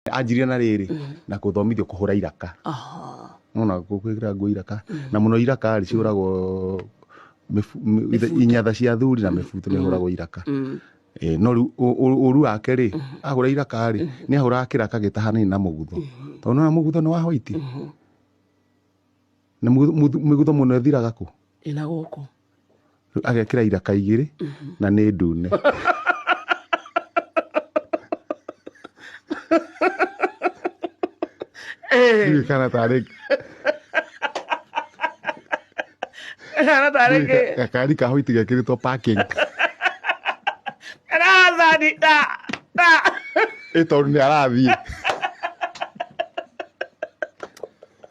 anjirie na rĩrĩ na kũthomithio kũhũra iraka Aha. nona gwĩkĩra nguo iraka na mũno iraka rĩ ciũragwo mĩbu- mĩ- ithe- inyatha cia thuri na mĩbuto nĩ hũragwo iraka Mm. Eh, no rĩu ũ- ũ- ũru wake rĩ ahũra iraka rĩ nĩ ahũraga kĩraka gĩtahanaine na mũgutho tondũ nona mũgutho nĩ wa hwaiti na mũgutho- mũgutho mũgutho mũno ĩthiraga kũ ĩna gũkũ Rĩu agekĩra iraka igĩrĩ na nĩ ndune Ndiũĩ kana tarĩ kana tarĩ kĩ gakari ka white gekĩrĩtwo parking karathani da da ĩ tondũ nĩ arathiĩ